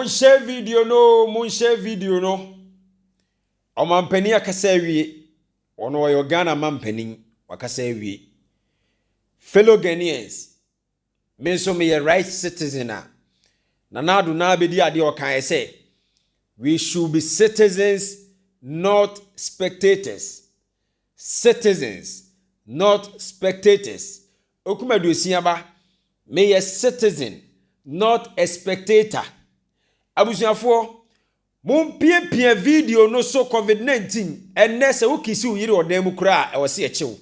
Monhyɛ video no o, monhyɛ video no. Ɔmampanin akasa awie. Ɔno ɔyɛ Ghana mampanin, wakasa awie. Fellow Ghanaians, me nso meyɛ right citizen a, Nana Addo na abɛdi adeɛ ɔkaeɛ sɛ, we should be citizens not spectators. Citizens, not spectators, Okum aduosia ba, Meyɛ citizen, not a spectator. Abusuafoɔ, mompiapia video no so Covid 19, Ɛnnɛ sɛ wo kisi wo yere wɔ dan mu koraa a, ɛwɔ sɛ yɛkye wo.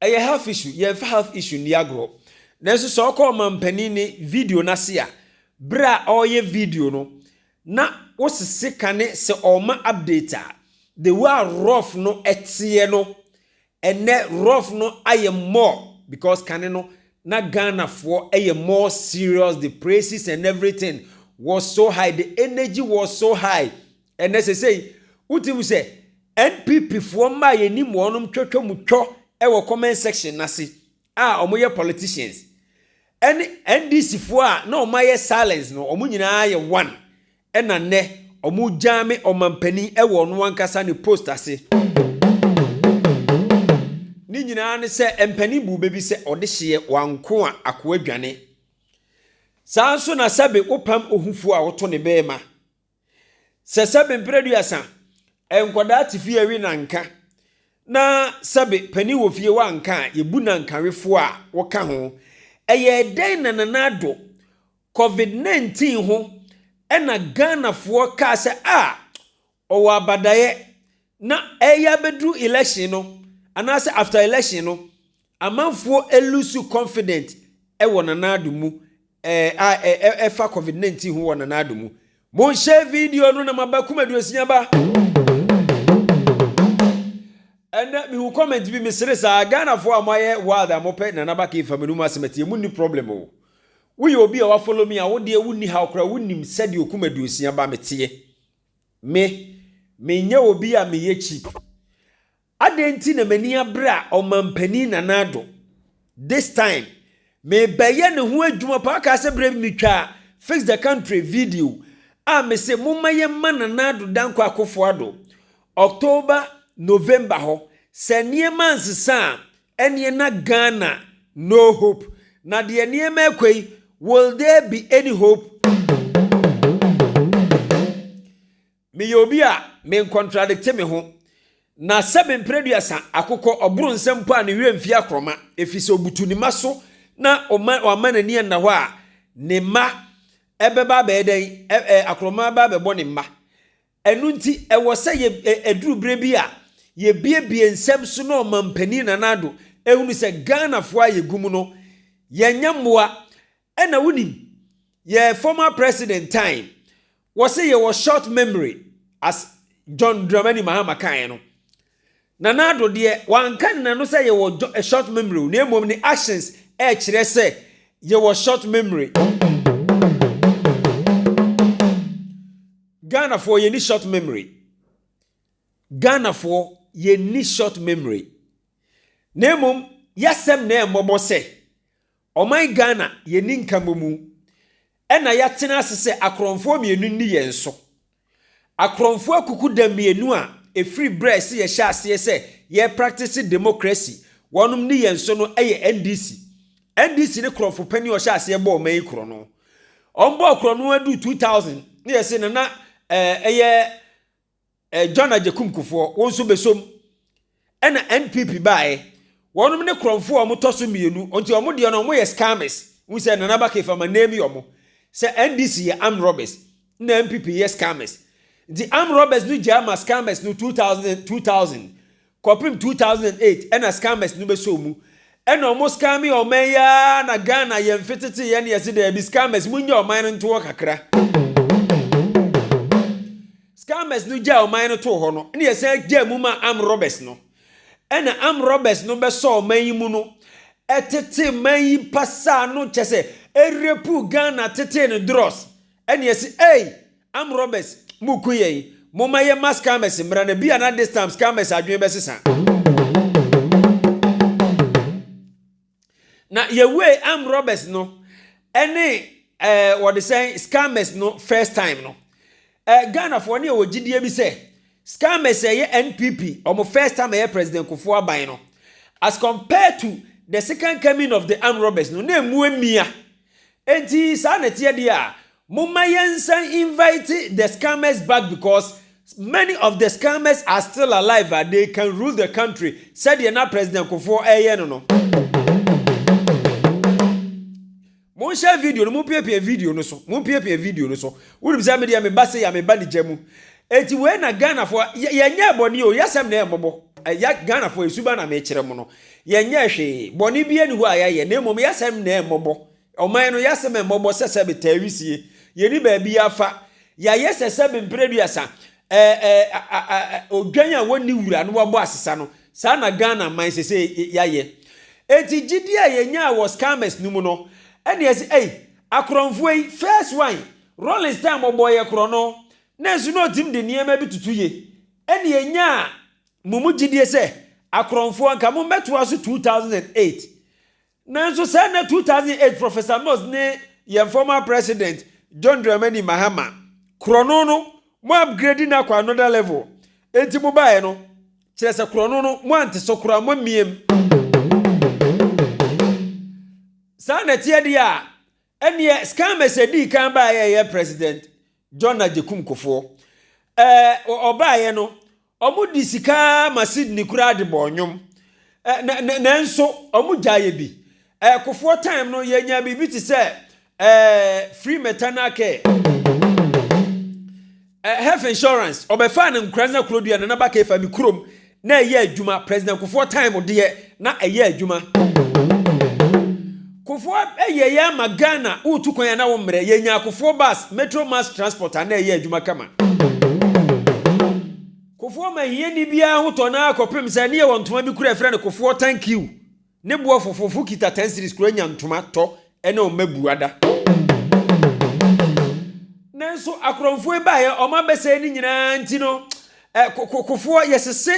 Ɛyɛ half issue, yɛnfa half issue nni agorɔ. Nanso sɛ ɔkɔ ɔmanpanin ne video no ase a, berɛ a ɔreyɛ video no, na wosese ka ne sɛ ɔrema update a, the way a rough no teɛ no, ɛnnɛ rough no ayɛ more because kane no, na Ghanafoɔ yɛ more serious, the praises and everything was so high, the energy was so high. Ɛnnɛ sesei, wogye mu sɛ NPP foɔ mma a yɛnim wɔnom twatwa mu twɔ wɔ comment section no ase a wɔyɛ politicians ɛne NDC foɔ a na wɔn ayɛ silence no wɔn nyinaa yɛ one ɛna nnɛ wɔgyame ɔmampanin wɔ ɔno ankasa ne post ase. Ne nyinaa ne sɛ mpanin buu bɛ bi sɛ ɔde hyeɛ wanko a akoa dwane. Saa nso na sɛbe wopam ohufoɔ a woto ne bɛɛma. Sɛ sɛbe mpere aduasa nkwadaa te fie awi nanka na sɛbe panin wɔ fie wanka a, yɛbu nankawefoɔ a wɔka ho. Ɛyɛ dɛn na Nana Addo COVID-19 ho ɛna Ghanafoɔ kaa sɛ a ɔwɔ abadaeɛ na ɛreyɛ abɛduru election no anaasɛ after election no Amanfoɔ lusu confident wɔ Nana Addo mu eh, a eh, eh, ɛfa covid 19 ho wɔ Nana Addo mu. Monhyɛ video no na maba kum aduosia ba. Ɛnɛ mehu comment bi mesere saa Ghanafoɔ a moayɛ wild a mopɛ Nana Baka yi fa me no mu asɛm atie munni problem o. Woyɛ obi a wa follow me a wodeɛ wonni haw koraa wonim sɛdeɛ okum aduosia ba meteɛ. Me, menyɛ obi a meyɛ cheap. Adɛn nti na m'ani abere a Ɔmanpanin Nana Addo, this time, merebɛyɛ ne ho adwuma paa kaa sɛ berɛ bi metwaa Fix the Country video a mese momma yɛmma Nana Addo Dankwa Akufo Addo October, November hɔ, sɛ nneɛma ansesa a ɛneɛ na Ghana no hope, na deɛ nneɛma rekɔ yi will there be any hope? Meyɛ obi a menkontradikte me ho, na sɛ me mprɛduasa akokɔ ɔboro nsam mpo a ne werɛ mfi akorɔma, efisɛ obutu ne mma so na wamma n'ani anna hɔ a, ne mma bɛba abɛyɛ dɛn? Akorɔma bɛba abɛbɔ ne mma. Ɛno nti, ɛwɔ sɛ yɛ ɛduru berɛ bi a yɛbiebie nsɛm so na ɔmampanin Nana Addo ɛhunu sɛ Ghanafoɔ a yɛgu mu no, yɛnyɛ mmoa Ɛna wonim yɛɛ former president time wɔse yɛwɔ short memory as John Dramani Mahama kaeɛ no. Nana Addo deɛ wanka ne nano sɛ yɛwɔ eh, short memory o na mmom ne actions ɛkyerɛ sɛ yɛwɔ short memory. Ghanafoɔ yɛni short memory. Ghanafoɔ yɛni short memory. Na mmom yɛasɛm na ɛmmɔbɔ sɛ Ɔman Ghana yɛnni nkamomu na yɛatena ase sɛ akorɔmfoɔ mmienu nni yɛn so. Akorɔmfoɔ akukuda mmienu a ɛfiri berɛ a ɛsɛ yɛhyɛ aseɛ sɛ yɛrepraktese demokrasi wɔnom nni yɛn so no yɛ NDC. NDC ne korɔmfo panin a ɔhyɛ aseɛ bɔɔ ɔman yi korɔno. Wɔbɔɔ korɔno aduru 2000 na yɛse na na ɛyɛ Eh, John Agyekum Kufuor, wo nso bɛsɔ mu. Ɛna NPP baeɛ, wɔnom ne korɔmfoɔ a wɔtɔ so mmienu, nti wɔn deɛ no wɔyɛ scammers. Wohu sɛ Nana Baka Ifa ma name wɔn sɛ NDC yɛ armed robbers, ɛna NPP yɛ scammers. Nti armed robbers no gyaa ma scammers no 2000, 2000. Kɔpem 2008 ɛna scammers no bɛsɔɔ mu ɛna ɔmo scamee ɔman yi aa na Ghana yɛ mfe tete yɛ na yɛse daabi scammers mongya ɔman no nto hɔ kakra scammers no gyaa ɔman no too hɔ no ɛna yɛsan gyaa mu maa armed robbers no ɛna armed robbers no bɛsɔɔ ɔman yi mu no ɛtete man yi pasaa no kyɛsɛ ɛrepuu Ghana tetee no drɔs ɛna yɛse ei Armed robbers mo ku yɛn. Momma yɛ ma scammers mmra na bia na this time scammers adwene bɛ sesa. Na yɛ wee armed robbers no ɛne eh wɔde sɛn scammers no first time no eh Ghana foɔ ne yɛ wɔ gyidie bi sɛ scammers ɛyɛ NPP ɔmo first time ɛyɛ president Kufuor aban no as compared to the second coming of the armed robbers no na ɛmu ɛmia Enti saa na ɛteɛ deɛ a, momma yɛnsan invite the scammers back because many of the scammers are still alive a they can rule the country sɛdeɛ na President Kufuor reyɛ no no. Monhyɛ video no, mompiapia video no so, mompiapia video no so. Wonim sɛ me deɛ meba sei a meba ne gya mu. Enti wei na Ghanafoɔ, yɛ, yɛnyɛɛ bɔne o, yɛsɛm na ɛmmɔbɔ. Ɛ, yɛ, Ghanafoɔ, ɛsuba na mekyerɛ mo no. Yɛnyɛɛ hwee, bɔne biara nni hɔ a yɛayɛ, na mmom yɛasɛm na ɛmmɔbɔ, ɔman no, yɛasɛm a ɛmmɔbɔ sɛ sɛbe, taa wisie, yɛnni baabiara fa, yɛayɛ sɛ sɛbe mprɛduasa, ɛɛ, ɛɛ, odwan a wɔnni wura na wɔabɔ asesa no, saa na Ghana man sesei yɛayɛ. Enti gyidie a yɛnyaa wɔ Scammers no mu no, ɛne ɛse, ei, akorɔmfoɔ yi, first one, Rawlings time ɔbɔɔ yɛ korɔno, nanso na ɔtumi de nneɛma bi tutu yɛ, ɛne yɛnyaa Mo mu gyidie sɛ akorɔmfoɔ anka mo mmɛtoa so 2008 nanso saa na 2008 Professor Nose ne yɛn former president John Dramani Mahama korɔno no mo upgrade no akɔ another level enti mo baeɛ no kyerɛ sɛ korɔno no mo ante so koraa mo mmiam saa na ɛteɛ deɛ a Ɛneɛ scammers ɛdii kan baeɛ ɛyɛ president John Agyekum Kufoɔ ɛɛ ɔbaeɛ no ɔmo de sika ma Sydney koraa de bɔɔ nnwom ɛɛ na nanso ɔmo gyaeɛ bi ɛɛ Kufoɔ time no yɛnya biribi te sɛ ɛɛ free maternal care. Eh, health insurance, ɔbɛfaa no Nkoranza kurodua Nana Baka Efa me kurom na ɛyɛ adwuma, President Kufuor time deɛ na ɛyɛ adwuma. Kufuor ɛyɛeɛ ama Ghana, woretu kwan a na wo mmerɛ, yɛnyaa Kufuor bus, Metro mass transport a na ɛyɛ adwuma kama. Kufuor ma hiani biara ho tɔ no ara kɔpem sɛ ne yɛwɔ ntoma bi kura yɛfrɛ no Kufuor thank you. Ne boɔ fofofo kita ten series kura nya ntoma tɔ ɛna ɔma bua da. Nanso akorɔmfoɔ yi baeɛ ɔmo abɛsɛe ne nyinaa nti no eh, kokofoɔ yɛsese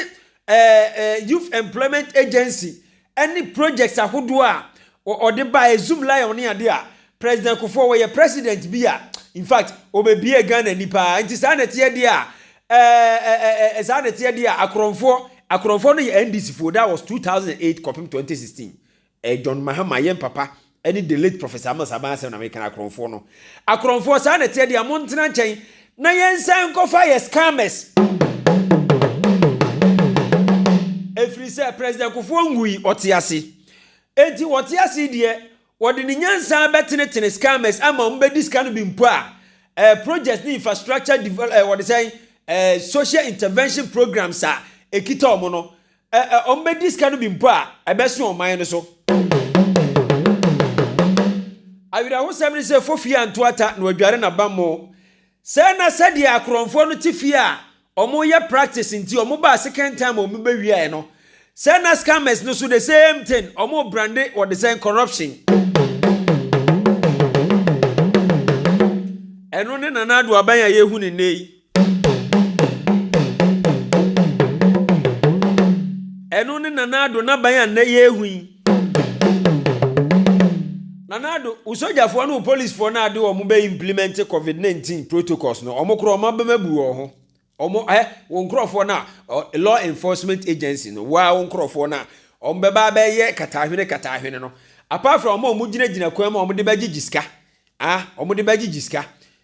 eh, eh, Youth Employment Agency ɛne projects ahodoɔ a ɔde baeɛ Zoom Lion ne adeɛ a President Kufuor wɔyɛ president bi a in fact ɔbɛbie Ghana ani paa nti saa na ɛteɛ deɛ a ɛɛɛɛɛɛ saa na ɛteɛ deɛ a akorɔmfoɔ akorɔmfoɔ no yɛ NDC foɔ that was 2008 kɔpem 2016 ɛɛ John Mahama yɛn papa ɛne the late Professor Amos Aban asɛm na meka no akorɔmfoɔ no akorɔmfoɔ saa na ɛteɛ deɛ a mo ntena nkyɛn na yɛn nsa nkɔfa yɛ scammers ɛfiri sɛ President Kufuor ngui ɔte ase enti wɔte ase deɛ Wɔde ne nyansa bɛtenetene scammers ama wɔn bɛdi sika no bi mpo a, eh, projects ne infrastructure develop, eh, wɔde sɛn, eh, social intervention programs a ɛkita wɔn no, eh, eh, wɔn bɛdi sika no bi mpo a, ɛbɛso ɔman no so. Awerɛhosɛm ne sɛ Fofie anto ata na wadware n'abammɔ. Sɛ na sɛdeɛ akorɔmfoɔ no te fie a wɔyɛ practice nti wɔbaa second time a wɔbɛwiaɛ no sɛ na scammers no nso the same thing wɔn brande wɔde sɛn corruption. Ɛno ne Nana Addo aban a yɛhu no nnɛ yi. Ɛno ne Nana Addo n'aban a nnɛ yɛrehu yi. Nana Addo, wo sogyafoɔ ne wo polisfoɔ no a de wɔn bɛ implement covid 19 protocols no, wɔn korɔ wɔn abɛm abu wɔn ho. Wɔn, hɛ, wo nkorɔfoɔ no a, law enforcement agency no, woa wo nkorɔfoɔ no a, wɔn bɛba abɛyɛ kataahwene kataahwene no, apart from wɔn a wɔn gyina gyina kwan mu a wɔn de bɛgyegye sika, ah, wɔn de bɛgyegye sika,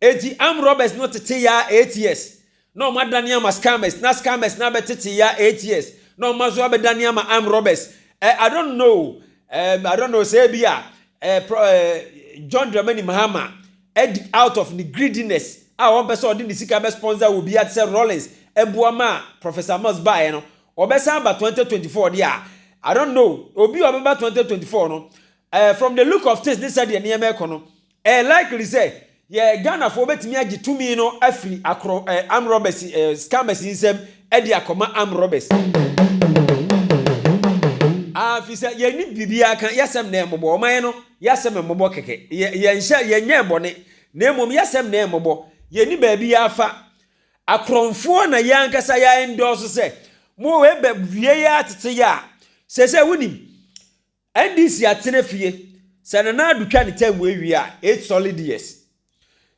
Enti armed robbers no tetee ya ATS na ɔmo adane ama scammers na scammers no abɛtetee ya ATS na ɔmo aso abɛdane ama armed robbers eh, I don't know eh, I don't know sɛ ebi a eh, pro, eh, John Dramani Mahama adi out of ne greediness a ɔmpɛ sɛ ɔde ne sika bɛ sponsor wɔ biara te sɛ Rawlings ɛboa ma Professor Mills baeɛ no ɔbɛsan aba 2024 deɛ a I don't know obi a ɔbɛba 2024 no eh, from the look of things ne sɛdeɛ nneɛma ɛkɔ no Ɛyɛ likely sɛ yɛ Ghanafoɔ bɛtumi agye tumi no afiri akorɔ eh, armed robbers eh, scammers nsam de akɔma armed robbers. Ah, firi sɛ yɛnni biribiara ka, yɛsɛm na ɛmmɔbɔ, wɔn ayɛ no, yɛsɛm mmɔbɔ kɛkɛ, yɛ, yɛnhyɛ, yɛnyɛɛ bɔne, na mmom yɛsɛm na ɛmmɔbɔ, yɛnni baabi afa. Akorɔmfoɔ na yɛn ankasa yɛ endorse sɛ, mo wei bɛ wie yɛ atete yɛ a, seesei wonim, NDC atena fie sɛ Nana Addo twa ne term wei wie a, eight solid years.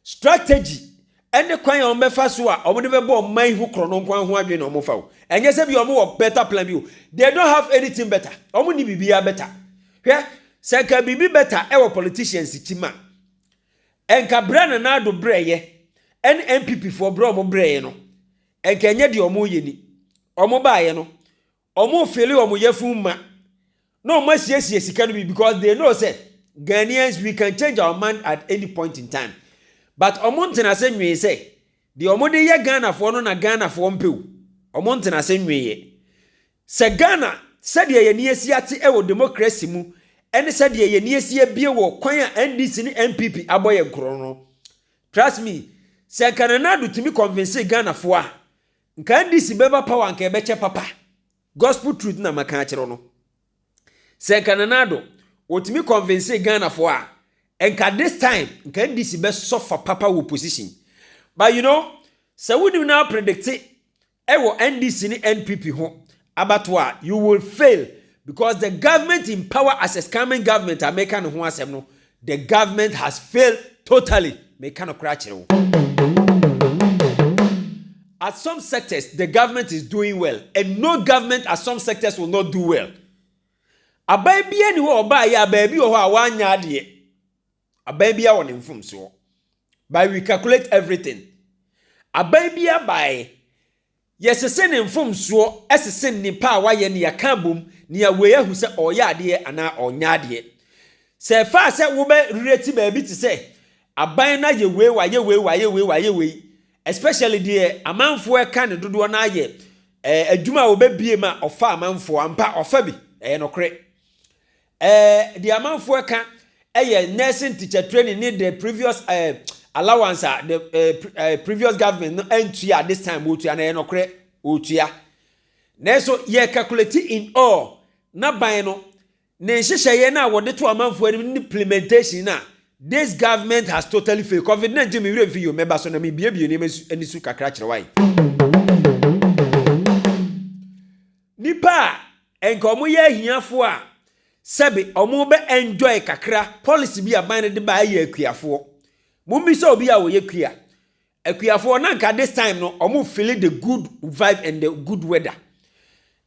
Strategy ne kwan a wɔbɛfa so a wɔde bɛbɔ ɔman ho korɔ no nko ara ho adwene na wɔfa o. Ɛnyɛ sɛ bi wɔwɔ better plan bi o. They don't have anything better. Wɔn ni biribiara better. Hwɛ, sɛ nka biribi better ɛwɔ politicians kyim a, ɛnka berɛ a Nana Addo brɛeɛ ɛne NPP foɔ berɛ a wɔbrɛeɛ no, ɛnka ɛnyɛ deɛ wɔyɛ ni. Wɔbaeɛ no, Ɔmo fili ɔmo yafun ma na ɔmo asiesie sika no bi because they know sɛ Ghanaians we can change our mind at any point in time but ɔmo ntenase nwee sɛ deɛ ɔmo de yɛ Ghanafoɔ no na Ghanafoɔ mpɛ o ɔmo ntenase nweeɛ sɛ Ghana sɛdeɛ yɛni asi ate wɔ democracy mu ɛne sɛdeɛ yɛni asi abie wɔ kwan a NDC ne NPP abɔ yɛn korɔn no trust me sɛ nka Nana Addo tumi convince Ghanafoɔ a Nka ndc bɛba power nka ɛbɛkyɛ papa gospel truth na mɛka akyerɛ wo no sɛ nka Nana Addo ɔtumi convincee Ghana foɔ a nka this time nka ndc bɛ suffer papa wɔ position but you know sɛ wonim na predicte ɛwɔ ndc ne NPP ho abatoɔ a you will fail because the government in power as is coming government a meka ne ho asɛm no the government has failed totally meka no koraa kyerɛ wo at some sectors the government is doing well and no government at some sectors will not do well aban bia ni hɔ ɔbaa yɛ a baabi wɔ hɔ a wanya adeɛ Aban biara wɔ ne mfomsoɔ. But we calculate everything. Aban biara baeɛ, yɛsese ne mfomsoɔ sese nnipa a wayɛ ne yɛaka abom nea wei ahu sɛ ɔreyɛ adeɛ anaa ɔnyɛ adeɛ. Sɛ ɛfaa sɛ wobɛrelate baabi te sɛ aban no ayɛ wei, wayɛ wei, wayɛ wei, wayɛ wei, especially deɛ amanfoɔ ɛka ne dodoɔ no ayɛ eh, adwuma a wɔbɛbie ma ɔfa amanfoɔ ampa, ɔfa bi, ɛyɛ nokorɛ. Eh, deɛ amanfoɔ ɛka ɛyɛ nursing teacher training ne the previous eh, allowance a the eh, eh, previous government no antua this time wɔtua na ɛyɛ nɔkorɛ wɔtua nanso yɛ calculate in all na ban no ne nhyehyɛeɛ no a wɔde to amanfoɔ anim ne implementation no a this government has totally failed covid-19 mewerɛ mfi yo mɛba so na mebiebie nneɛma ani su kakra kyerɛ wae Nnipa a anka wɔyɛ ahiafoɔ a sɛbe wɔbɛ enjoy kakra policy bi a aban no de ba ɛyɛ akuafoɔ. Mommisa obi a ɔyɛ kua. Akuafoɔ na anka this time no wɔn feel the good vibe and the good weather.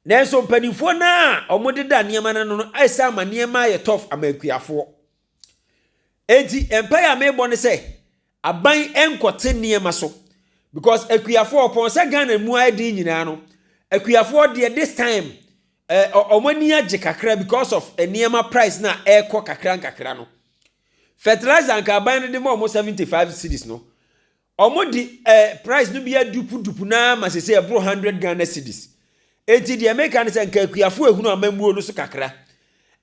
Nanso mpanimfoɔ no a wɔdeda nneɛma no ano no ayɛ sɛ ama nneɛma ayɛ tough ama akuafoɔ. Enti mpae a mebɔ ne sɛ aban nkɔte nneɛma so because akuafoɔ ɔpɔn sɛ Ghana mu ayɛ den nyinaa no akuafoɔ deɛ this time eh, wɔn ani agye kakra because of nneɛma price na ɛrekɔ kakra nkakra no fertilizer nka aban no de ma wɔn seventy five cities no Ɔmo de eh price no bi adupu dupu no ara ma sesei ɛboro hundred Ghana cedis. Enti deɛ meka ne sɛ nka Akuafoɔ ahunu amammuo no so kakra.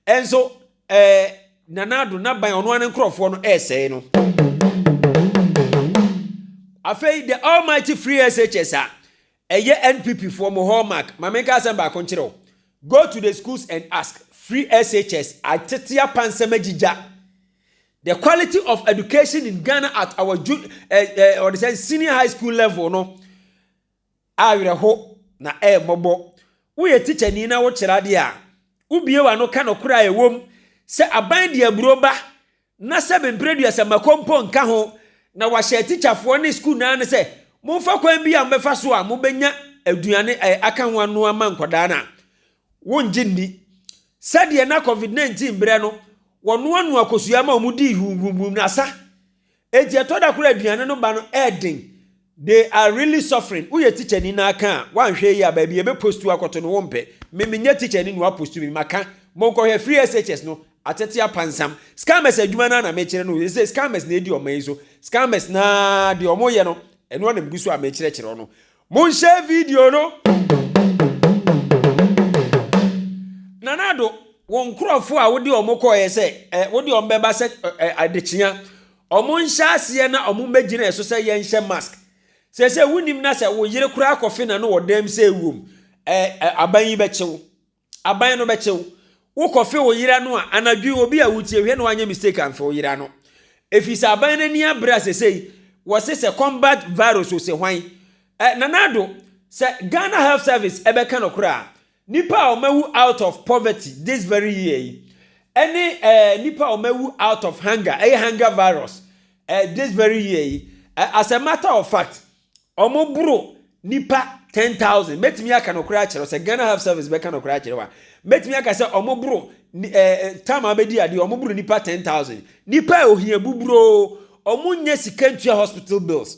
Nso eh Nana Addo n'aban ɔno ara ne nkorɔfoɔ no ɛresɛe no. Afei the almighty free SHS a Ɛyɛ NPP foɔ mo hallmark ma menka asɛm baako nkyerɛ wo go to the schools and ask free SHS atetea pa nsɛm agyigya the quality of education in Ghana at our ju eh, eh, ɔde sɛ senior high school level no awerɛho na ɛmmɔbɔ woyɛ teacher ni na wokyerɛ adeɛ a wobie w'ano ka nɔkorɛ a ɛwom sɛ aban de aburo ba na sɛ mempere aduasammako mpo nka ho, na wɔahyɛ atikyafoɔ ne sukuu no ara no sɛ momfa kwan bi a mobɛfa so a mobɛnya aduane a aka ho anoa ma nkwadaa no a, wongye nni. Sɛdeɛ na Covid 19 berɛ no, wɔnoanoa kosua ma wɔdii huuhuuhuum na asa. Enti ɛtɔ da koraa a aduane no ba no yɛ den. They are really suffering woyɛ teacher ni na aka a wanhwɛ yie a baabi yɛbɛ post wo akɔto no wompɛ me menyɛ teacher ni na wapost me maka monkɔhwɛ free SHS no atete apansam scammers adwuma no a na mekyerɛ no ɛsɛ scammers na ɛdi ɔma yi so scammers na deɛ ɔmo yɛ no ɛno na megu so a mekyerɛkyerɛ ɔno monhyɛ video no Nana Ado wo nkorɔfo a wode ɔmo kɔɛ sɛ eh, wode ɔmo bɛba sɛ eh, adekyea Wɔnhyɛ aseɛ na wɔmmɛgyina yɛn so sɛ yɛnhyɛ mask. Seesei wonim na sɛ wo yere koraa kɔfe n'ano wɔ dan mu sɛ ɛwom ɛ, ɛ, aban yi bɛkye wo. Aban no bɛkye wo. Wokɔfe wo yere ano a, anadwo yi obi a wotie hwɛ na wanyɛ mistake amfe wo yere ano. Ɛfiri sɛ aban no ani abere a seesei wɔse sɛ combat virus ose hwan. Ɛ, Nana Addo, sɛ Ghana Health Service ɛbɛka nokorɛ a, Nnipa a wɔawu out of poverty this very year yi ɛne ɛɛ eh, nnipa a wɔawu out of hunger ɛyɛ hunger virus ɛɛ eh, this very year yi ɛɛ eh, as a matter of fact wɔn boro nipa ten thousand mɛtumi aka nɔkorɛ akyerɛ sɛ ghana health service bɛka nɔkorɛ akyerɛ wa mɛtumi aka sɛ wɔn boro ɛɛ eh, eh, tam a bɛdi adeɛ wɔn boro nipa ten thousand nipa a ohia buburoo wɔn nyɛ sika ntua hospital bills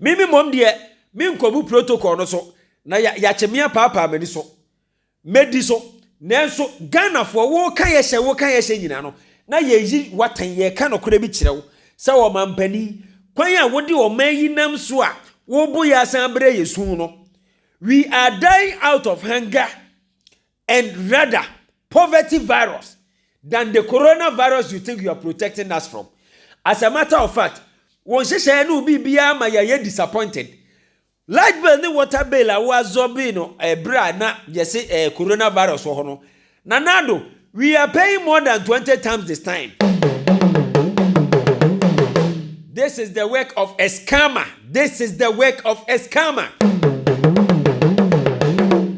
Me me mmom deɛ, menkɔbu protocol no so, na ya yakye me apaapaa m'ani so. Mɛdi so. Nanso, Ghanafoɔ, woka yɛhyɛ, woka yɛhyɛ nyinaa no, na yɛyi w'atɛn, yɛreka nokorɛ bi kyerɛ wo, sɛ ɔmampanin, kwan a wode ɔman yi nam so a, wobo yɛ asan abrɛ yɛ su no, we are dying out of hunger, and rather poverty virus than the coronavirus you think you are protecting us from. As a matter of fact, wɔn nhyehyɛeɛ no biribiara ma yɛayɛ disappointed. Light bill ne water bill a wɔazɔbe no ɛberɛ eh, a na yɛse ɛɛ eh, coronavirus wɔ hɔ no, nanado we are paying more than 20 times this time. This is the work of a scammer. This is the work of a scammer.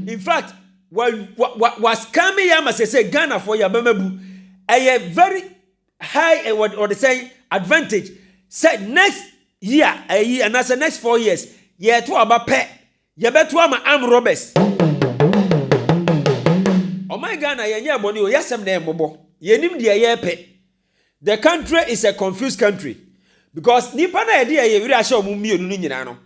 In fact, wa wa wa wa scam yɛ ama sɛ sɛ ghana fo yaba mabu ɛyɛ very high eh, what wɔde sɛn advantage sɛ next year ɛyi anaasɛ next four years yɛto aba pɛ yɛbɛto ama am robbers ɔman ghana yɛnyɛ ɛbɔne o yɛasɛm na ɛmmɔbɔ yɛnim deɛ yɛpɛ The country is a confused country because nnipa no a yɛde yɛn werɛ ahyɛ wɔn mmienu no nyinaa no,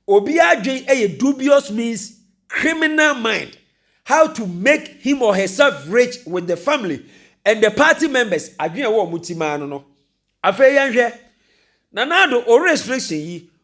obiara adwene yɛ dubious means, criminal mind, how to make him or herself rich with the family and the party members adwene a ɛwɔ wɔn ti maa no no. Afei yɛnhwɛ Nana Addo o restriction yi,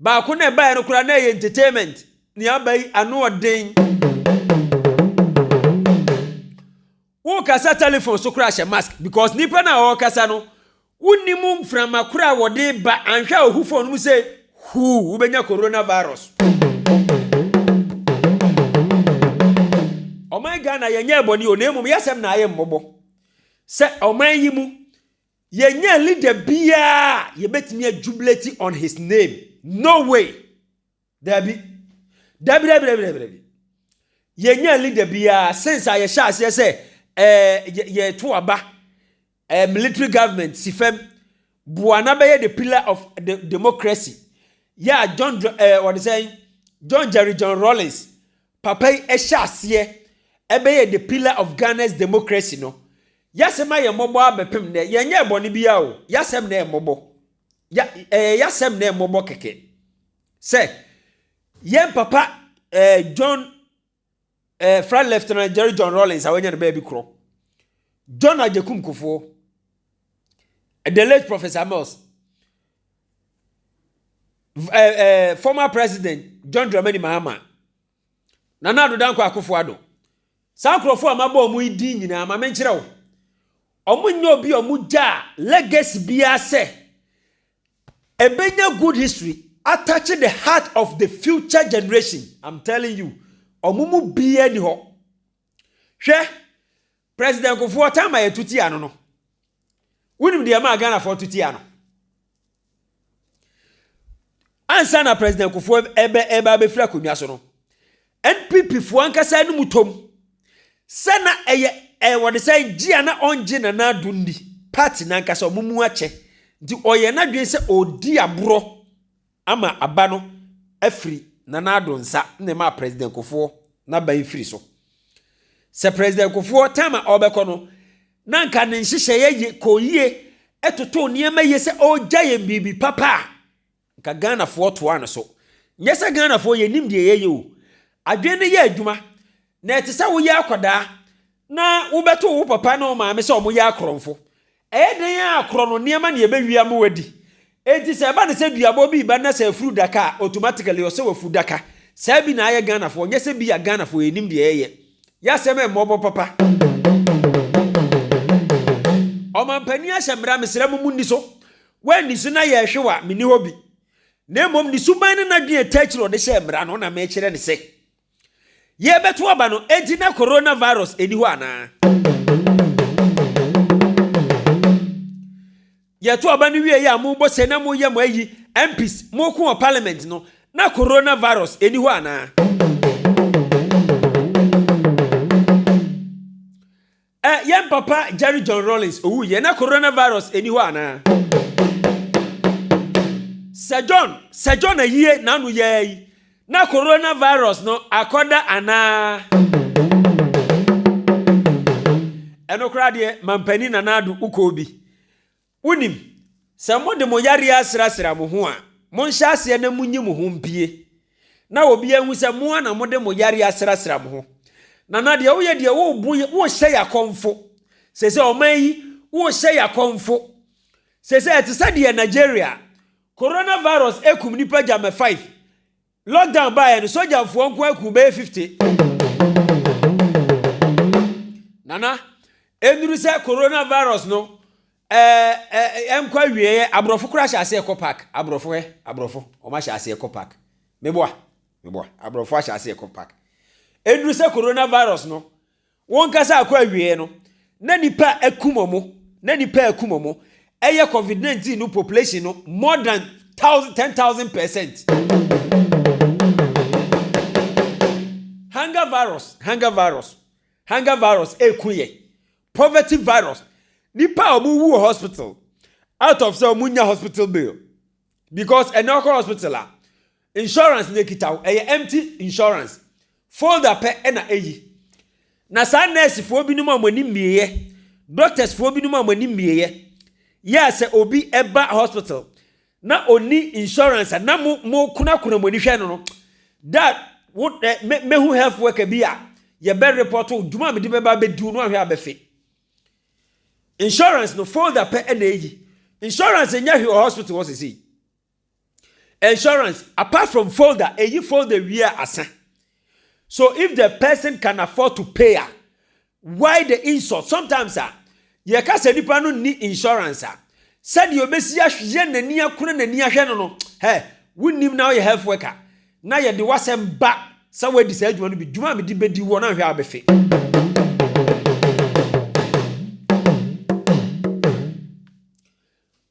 Baako na ɛbaeɛ no koraa na ɛyɛ entertainment nea aba yi ano ɔden. Wo kasa telephone so koraa hyɛ mask because nipa no a ɔrekasa no wo nim mframa koro a wɔde ba anhwɛ a ohu phone no mu sɛ huu wo bɛnya corona virus. Ɔman Ghana yɛnyɛɛ bɔne o na mmom yɛsɛm na ayɛ mmɔbɔ sɛ ɔman yi mu Yɛnyaa leader biaa a yɛbɛtumi a jubilate on his name. No way! Daabi. Daabi daabi daabi daabi daabi. Yɛnyaa leader biaa since a yɛhyɛ aseɛ sɛ eh, yɛto aba eh, military government si fam boa na bɛyɛ the pillar of the democracy. Yɛ a John, eh, wɔde sɛn? John Jerry John Rawlings Papa yi ɛhyɛ aseɛ ɛbɛyɛ the pillar of Ghana's democracy no yasɛm ayɛ mmɔbɔ ara bɛpem nnɛ yɛnyɛɛ bɔne biara o yasɛm na ɛyɛ mmɔbɔ ya ɛyɛ yasɛm na ɛyɛ mmɔbɔ kɛkɛ sɛ yɛn papa ɛɛ John ɛɛ Flight Lieutenant Jerry John Rawlings a wɔnyɛ no baabi korɔ John Agyekum Kufuor the late Professor Mills ɛɛ ɛɛ former president john dramani mahama nana ado dankwa akufo ado saa nkurɔfoɔ a mabɔ wɔn yi din nyinaa ma menkyerɛ wo wɔn nyɛ obi a wɔn gya a legacy biara sɛ ɛbɛnya good history attach the heart of the future generation i'm telling you wɔn mu biara ni hɔ hwɛ President Kufuor taa ma yɛtu tia no no, wonim deɛ ɛmaa Ghanafoɔ tu tia no? Ansa na President Kufuor ɛbɛ ɛbɛ abɛfiri akonnwa so no, NPP foɔ ankasa no mu tom sɛ na ɛyɛ ɛyɛ wɔde sɛ gye a na ɔngye Nana Addo nni, party no ankasa wɔn mu akyɛ, nti ɔyɛ n'adwene sɛ ɔredi aborɔ. Ama aba no afiri Nana Addo nsa na ɛmaa President Kufuor n'aban firi so. Sɛ President Kufuor, time a ɔrebɛkɔ no, na nka ne nhyehyɛeɛ ye, kɔɔ yie, ɛtotoo nneɛma yie sɛ ɔregya yɛn biribi papa a, nka Ghanafoɔ toaa no so. Nyɛ sɛ Ghanafoɔ yɛnnim deɛ yɛyɛ o. Adwene no yɛ adwuma, na ɛte sɛ woyɛ akwadaa na wobɛto wo papa ne wo maame sɛ wɔyɛ akorɔmfo. Ɛyɛ dɛn ara korɔno nneɛma na yɛbɛwie ama wɔadi. Enti sɛ ɛba no sɛ duabɔ bi reba na sɛ afuru daka a, automatically ɔsɛ wafu daka. Saa bi na ayɛ Ghanafoɔ, nyɛ sɛ bi a Ghanafoɔ yɛnnim deɛ yɛyɛ. Yɛ asɛm a ɛmmɔ bɔ papa. Ɔmampanin ahyɛ mmara, mesrɛ mo monni so. Woanni so na yɛrehwe wo a, menni hɔ bi. Na mmom ne suban ne n'adwene a ɛtaa akyiri a ɔde hyɛɛ mmara no na merekyerɛ no sɛ. Yɛrebɛto aba no enti na coronavirus nni hɔ anaa? Yɛto aba no wieeɛ a mobɔ se na moyɛ mo ayi MPs moko wɔ parliament no na coronavirus nni hɔ anaa? Ɛ, yɛn papa Jerry John Rawlings owui yɛ, na coronavirus nni hɔ anaa? Sɛ John, sɛ John ayie n'ano yɛ ara yi, na coronavirus no akɔda anaa? Ɛno koraa deɛ, Mampanin Nana Addo, wokɔɔ bi? Wonim, sɛ mode mo yareɛ asrasra mo ho a, monhyɛ aseɛ na monyi mo ho mpue, na obiara nhu sɛ mo ara na mode mo yareɛ asrasra mo ho. Nana, deɛ woyɛ deɛ, wobu, wohyɛ yɛn akɔmfo. Seesei ɔman yi, wohyɛ yɛn akɔmfo. Seesei ɛte sɛ deɛ Nigeria, Coronavirus akum nnipa gyamɛ five. Lockdown baeɛ no, sogyafoɔ nko ara kum bɛyɛ 50. Nana, ɛnnuru sɛ coronavirus no ɛnkɔ awieɛ, aborɔfo koraa ahyɛ aseɛ kɔ park, aborɔfo ɛ, aborɔfo, wɔn ahyɛ aseɛ kɔ park. Meboa, meboa, aborɔfo ahyɛ aseɛ kɔ park. Ɛnnuru sɛ coronavirus no Wɔnkasa kɔ awiei no na nnipa akum ɔmo, na nnipa a akum ɔmo ɛyɛ covid 19 no population no more than thousand, ten thousand percent. Hunger virus, hunger virus, hunger virus ɛku yɛ, poverty virus, nnipa a ɔmo wu wɔ hospital out of sɛ ɔmo nya hospital bill because ɛnɛ ɔkɔ hospital a. Insurance na ekita wo. Ɛyɛ empty insurance. Folder pɛ na eyi. Na saa nurse foɔ binom a wɔn ani mmieɛ, doctors foɔ binom a wɔn ani mmieɛ, yɛ a sɛ obi ɛba hospital na ɔni insurance a, na mo mo kunakuna mo ani hwɛ no no, da wo ɛ mɛ mɛhu health worker bi a yɛbɛ report wo dwuma a mede bɛba abɛdiw no ahwɛ abɛfe. Insurance no folder pɛ na eyi. Insurance nyɛ hwee wɔ hospital hɔ sisi. Insurance, apart from folder, eyi folder wie a asa. So if the person can afford to pay a, why the insult? Sometimes a, yɛka sɛ nipa no nni insurance a, sɛdeɛ obesi ahweyɛ n'ani akona n'ani ahwɛ no no, hɛ, wonim na ɔyɛ health worker, na yɛde w'asɛm ba sɛ wadi saa adwuma no bi, dwuma a mede bɛdi wɔ na nhwɛ a wobɛfe.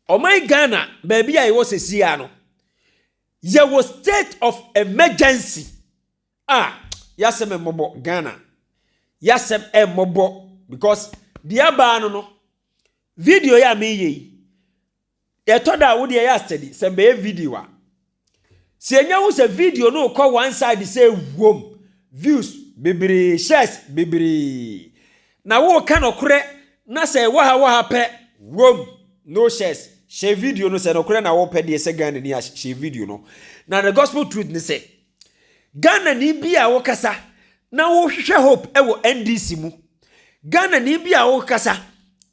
Ɔman Ghana baabi a yɛwɔ sesiaa no, yɛwɔ state of emergency a yasɛm mmɔbɔ Ghana. Yasɛm mmɔbɔ because deɛ abaa no no, video yɛ a meyɛ yi, yɛtɔ da a wodeɛ yɛ a steady sɛ mbɛyɛ video a. Sɛ yɛnya hu sɛ video no rekɔ one side sɛ wuom, views bebree, shares bebree, na woreka nɔkorɛ na sɛ ɛwɔ ha wɔ ha pɛ, wuom, no shares, hyɛ video no sɛ nɔkorɛ na wopɛ deɛ sɛ Ghana ni a hyɛ video no. Na the gospel truth ne sɛ, Ghana ni bi a wokasa na wohwehwɛ hope ɛwɔ NDC mu, Ghana ni bi a wokasa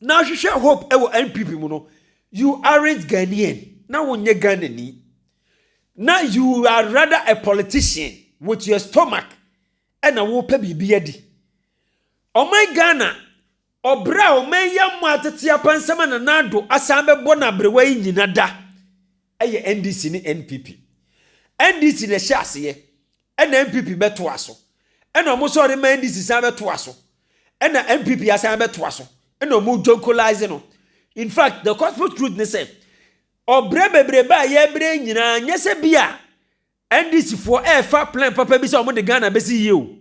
na wohwehwɛ hope ɛwɔ NPP mu no, You aren't Ghanaian, na wonyɛ Ghanani. Na you are rather a politician with your stomach ɛna wopɛ biribi adi. Ɔman Ghana, ɔbrɛ a ɔman yi ammɔ atete apansam a Nana Addo asan bɛbɔ no aberewa yi nyina da ɛyɛ NDC ne NPP. NDC na ɛhyɛ aseɛ, Ɛna NPP bɛtoa so. Ɛna ɔmo sɛ ɔde ma NDC san bɛtoa so. Ɛna NPP asan abɛtoa so. Ɛna ɔmo jonkolize no. In fact, the cosmic truth ne sɛ, ɔbrɛ bebrebe a yɛbrɛ yi nyinaa, nyɛ sɛ bi a NDC foɔ ɛɛfa plan papa bi sɛ ɔmo de Ghana bɛsi yie o.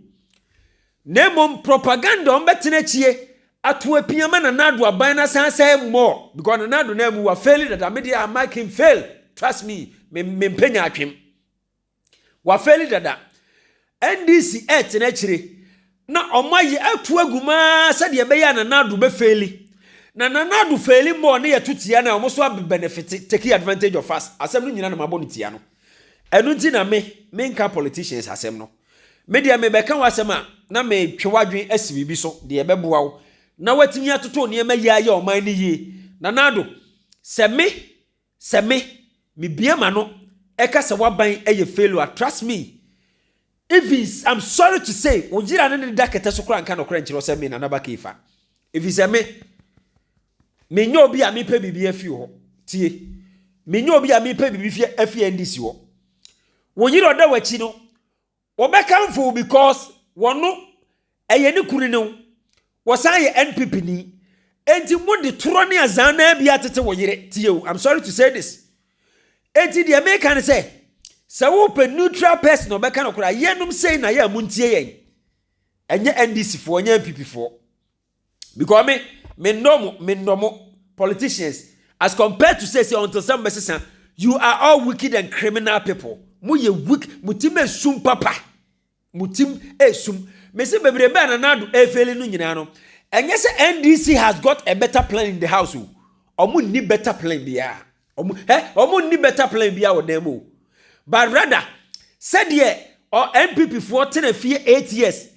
Na mmom propaganda ɔmo bɛtena akyie ato apia ma Nana Addo aban no asan asɛe more. Because Nana Addo no amu, wafeeli dada. Me deɛ I mark him fail. Trust me, me mpɛ nyaatwem. Wafeli dada. NDC ɛɛtena akyire na ɔmo ayɛ atu agu mu aa sɛdeɛ ɛbɛyɛ a Nana Addo bɛ feli. Na Nana Addo feli mmɔ ɔne yɛ to tia no a ɔmo so a benefite, taking advantage of us. Asɛm no nyina na mabɔ no tia no. Ɛno nti na me, me nka politicians asɛm no. Me deɛ me bɛka wo asɛm a na me twe w'adwene asi biribi so deɛ ɛbɛboa wo na watumi atoto nneɛma yie ayɛ ɔman no yie. Nana Addo, sɛ me, Sɛ me, me bue m'ano ɛka sɛ w'aban ɛyɛ failure a trust me Evens I'm sorry to say wo yera ne ne da kɛtɛ so koraa nka nɔkorɛ nkyerɛ wo sɛ me Nana Bakay fa ɛfiri sɛ me me nyɛ obi a mepɛ biribi afi wo hɔ tie me nyɛ obi a mepɛ biribi fi afi NDC hɔ wo yera ɔda w'akyi no Wɔbɛkamfo wo because wɔno ɛyɛ ne kunu ne wo. Wɔsan yɛ NPP ni. Enti mo de torɔ ne azan naa bi atete wo yere. Tie o, I'm sorry to say this. Enti deɛ meka ne sɛ, sɛ wopɛ neutral person a ɔbɛka nokora, yɛnom sei na yɛ a montie yɛn. Ɛnyɛ NDC foɔ, ɛnyɛ NPP foɔ. because me me nnɔ mo me nnɔ mo politicians as compared to say sɛ ɔntɔ sɛ mo bɛsesa you are all wicked and criminal people mo yɛ weak mo tim esum papa mo tim esum mesi bebrebe a nana ado efeeli no nyinaa no ɛnyɛ sɛ ndc has got a better plan in the house o ɔmo nni better plan biara ɔmo ɛ ɔmo nni better plan biara wɔ dan mu o but rather sɛdeɛ ɔ npp foɔ tena fie eight years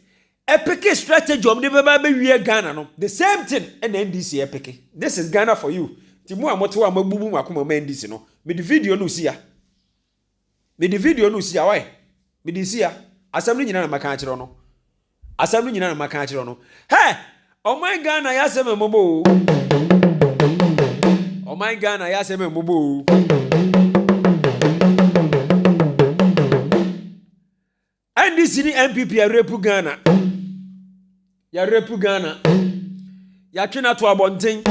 Ɛpeke strategy a wɔn de bɛba abɛwie Ghana no, the same thing na NDC ɛpeke. This is Ghana for you. Nti mo a mote hɔ a moabu mu mo akoma ma NDC no, mede video no resi ha. Mede video no resi ha, why? Mede resi ha. Asɛm no nyinaa na maka akyerɛ no. Asɛm no nyinaa na maka akyerɛ no. Hɛ! Ɔman Ghana yɛ asɛm mmɔbɔ o. Ɔman Ghana yɛ asɛm mmɔbɔ o. NDC ne NPP yɛrepu Ghana, yɛrepu Ghana, yɛatwe no ato abɔnten,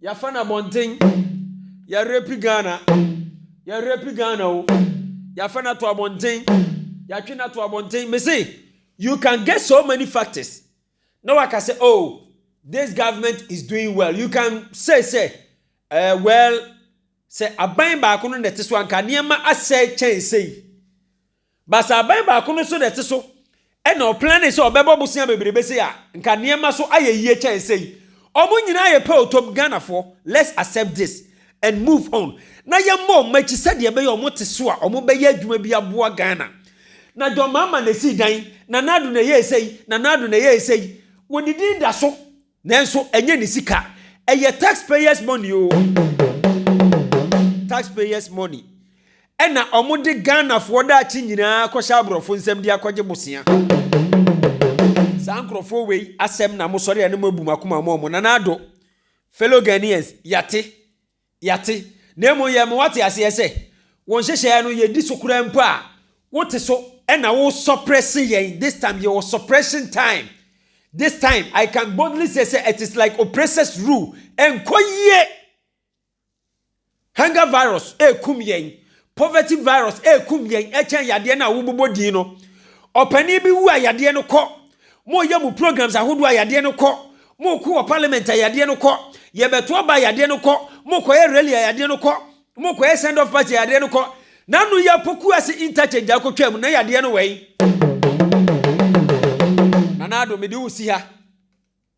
yɛafa no abɔnten, yɛrepu Ghana, yɛrepu Ghana o, yɛafa no ato abɔnten, yɛatwe no ato abɔnten. Me se, you can get so many factors na waka sɛ oh this government is doing well you can say sɛ uh, well sɛ aban baako no na ɛte so anka nneɛma asɛe kyɛn sɛyi. Basabɛn baako no so na ɛte so na ɔplanee sɛ ɔbɛbɔ bosea bebrebe sei a, nka nneɛma so ayɛ yie kyɛn sei. Wɔn nyinaa yɛ pɛ o Tom, Ghanafoɔ, let's accept this and move on na yɛmmɔ wɔn akyi sɛdeɛ ɛbɛyɛ wɔn te so a wɔbɛyɛ adwuma bi aboa Ghana. Na John Mahama na ɛsii dan, Nana Addo na ɛyɛɛ sei, Nana Addo na ɛyɛɛ sei. Wɔn din da so Nanso ɛnyɛ ne sika. Ɛyɛ tax payers money o. Tax payers money. Ɛna ɔmo de Ghana foɔ daakye nyinaa kɔhyɛ aborɔfo nsam de akɔgye bosea. Saa nkorɔfoɔ wei asɛm na mo sɔre a na mo abu mo akoma mo ɔmo. Nana Addo, fellow Ghanaians, yate. Yɛate, na mmom yɛrema woate aseɛ sɛ, wo nhyehyɛeɛ no, yɛdi so koraa mpo a, wote so na wo suppresse yɛn this time, yɛwɔ suppression time this time, I can boldly say sɛ it is like oppressors rule, ɛnkɔ yie! Hunger virus ɛrekum yɛn, Poverty virus ɛkum yɛn ɛkyɛn yadeɛ no a wobobɔ din no. Ɔpanin bi wu a yadeɛ no kɔ. Moyɛ mo programs ahodoɔ a yadeɛ no kɔ. Moko wɔ parliament a yadeɛ no kɔ. Yɛbɛto aba a yadeɛ no kɔ. Mokɔyɛ rally a yadeɛ no kɔ. Mokɔyɛ send off party a yadeɛ no kɔ. Na ano yi apoku ase interchange akɔtwam na yadeɛ no wɛn. Nana Addo mede wo si ha.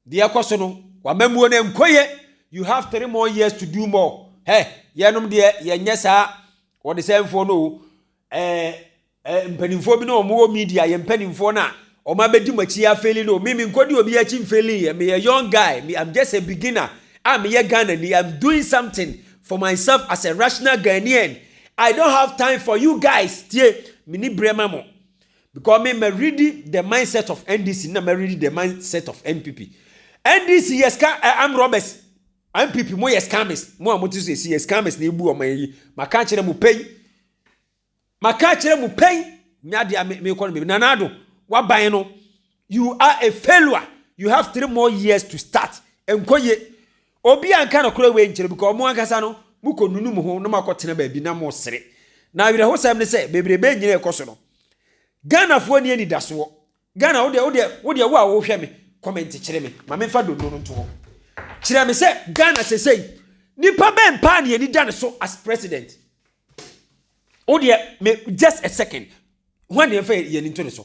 Deɛ ɛkɔ so no, w'amammuo no nkɔ yie, you have three more years to do more. Hɛ, yɛnom deɛ yɛnyɛ saa ɔdesɛnfoɔ no o. Ɛɛ, ɛɛ mpanimfoɔ bi na wɔn wɔ media, yɛn mpanimfoɔ no a wɔn abɛdi mo akyi afeeli no, me me nkɔdi obi akyi mfeeli yɛ, meyɛ young guy, me I'm just a beginner a meyɛ Ghana ni, I'm doing something for myself as a rational Ghanaian. I don't have time for you guys, tie, menni berɛ ma mo. Because me ma ready the mindset of NDC na ma ready the mindset of NPP. NDC yes ka uh, eh, I'm robbers. NPP mo yes scammers. Mo a mo ti so si yes scammers na ebu ọmọ yi. Ma ka kyerɛ mo pɛn. Ma ka kyerɛ mo pɛn. Nya de me me kɔ no me nanado. Waban no. You are a failure you have three more years to start ɛnkɔ ye obi a nka nokorɛ wei nkyerɛ because ɔmo ankasa no mo kɔ nunu mo ho na mo akɔ tena baabi na mo sere na awerɛhosɛm ne sɛ bebrebe nyina ɛkɔ so no Ghanafoɔ ni anidasoɔ Ghana wodeɛ wodeɛ wodeɛ wo a wohwɛ me comment kyerɛ me ma memfa dondo no nto hɔ kyerɛ me sɛ Ghana sesei nipa bɛn mpaa ne ani da ne so as president wodeɛ me just a second ho aneɛ mfa yɛn nto ne so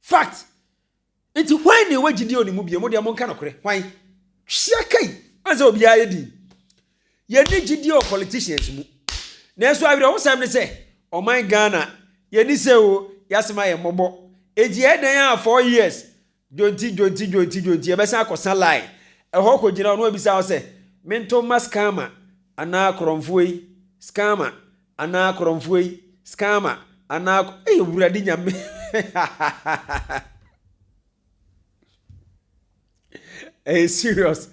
Fact! Nti hwan na ɛwɔ gyidie ɔne mu bio? Mo deɛ monka nokorɛ. Hwan? Hyia kai! Ɔne sɛ obiara yɛ din. Yɛne gyidie wɔ politicians mu. Nanso awerɛhosɛm ne sɛ, ɔman Ghana, yɛni sɛ o, yɛasem ayɛ mmɔbɔ. Nti ɛyɛ dɛn a four years, dwonti, dwonti, dwonti, dwonti, yɛbɛsan akɔsa line. Ɛhɔ kɔgyina hɔ na wabisa wo sɛ, Mento mma scammer anaa korɔmfoɔ yi, scammer, Anaa korɔnfoɔ yi scammer anaa ko ei awurade nyame ɛyɛ serious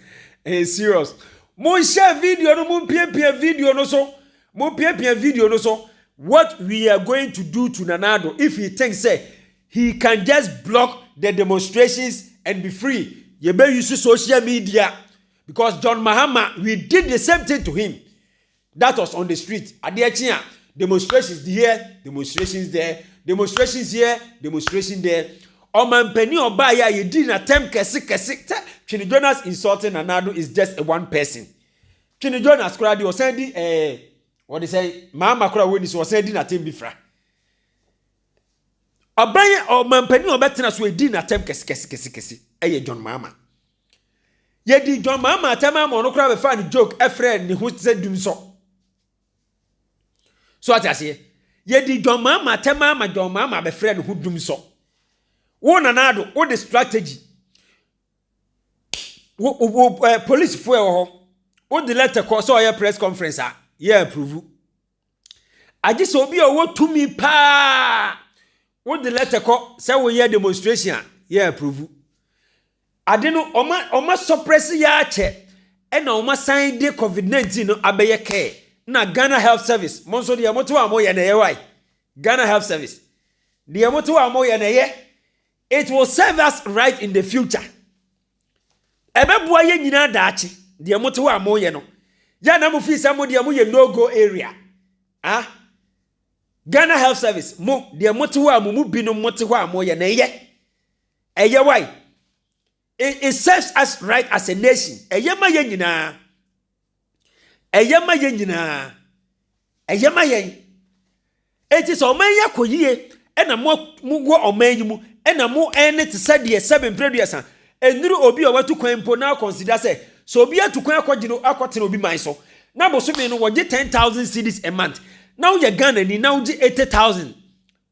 ɛyɛ serious mo nhyɛ video no mo mpiapia video no so mo mpiapia video no so what we are going to do to nanado if he thinks say he can just block the demonstrations and be free yɛbɛ use social media because john mahama we did the same thing to him That was on the street. Adeɛ kye a, demonstrations here, demonstrations there, demonstrations here, demonstration there. Ɔmampanin ɔbaa yɛ a yɛdi na tɛm kɛse kɛse sɛ Twene Jonas insulting Nana Addo is just a one person. Twene Jonas koraa deɛ ɔsan di ɛɛ eh, wɔde sɛ maama koraa wɔni so ɔsan di na tɛm bi fra. Ɔbɛn ɔmampanin ɔbɛtena so edi na tɛm kɛse kɛse kɛse kɛse ɛyɛ John Maama. Yɛdii dwammaa maa tɛmaa ma ɔno koraa bɛfaa no joke ɛfrɛɛ ne ho sɛ dum sɔ. So ate aseɛ? Yɛdii dwammaa maa tɛmaa ma dwammaa ma bɛfrɛɛ ne ho dum sɔ. Wo nana ado, wo de strategy. Wo, wo, eh, polisifoɔ ɛwɔ hɔ. Wo de letter kɔ sɛ ɔyɛ press conference a, yɛ approve. agye sɛ obi a ɔwɔ tumi paa wode lɛtɛ kɔ sɛ woyɛ demonstration a yɛ aprovu ade no ɔma ɔma sɔprɛse yɛ akyɛ ɛna ɔma san de covid nineteen no abɛyɛ kɛɛ na ghana health service mo nso deɛ moto a moyɛ na ɛyɛ wae ghana health service deɛ moto a moyɛ na ɛyɛ It will serve us right in the future. Ɛbɛboa yɛn nyinaa daakye. Deɛ mote hɔ a moyɛ no, yɛ na mo fi sɛ mo deɛ moyɛ no go area. Ah, Ghana Health Service, mo deɛ mote hɔ a mo mu binom mote hɔ a moyɛ na ɛyɛ. Ɛyɛ wae. It it serves us right as a nation. Ɛyɛ ma yɛn nyinaa. Ɛyɛ ma yɛn nyinaa. Ɛyɛ ma yɛn. Enti sɛ ɔman yi akɔ yie ɛna mo mo wɔ ɔman yi mu ɛna mo ɛne te sɛ deɛ sɛbe mprɛduasa ɛnuru obi a watu kwan mpo na akɔnsida sɛ sɛ obi atu kwan akɔgye no akɔtena obi man so na bosome no wɔgye ten thousand cedis a month na woyɛ Ghana ni na wogye eighty thousand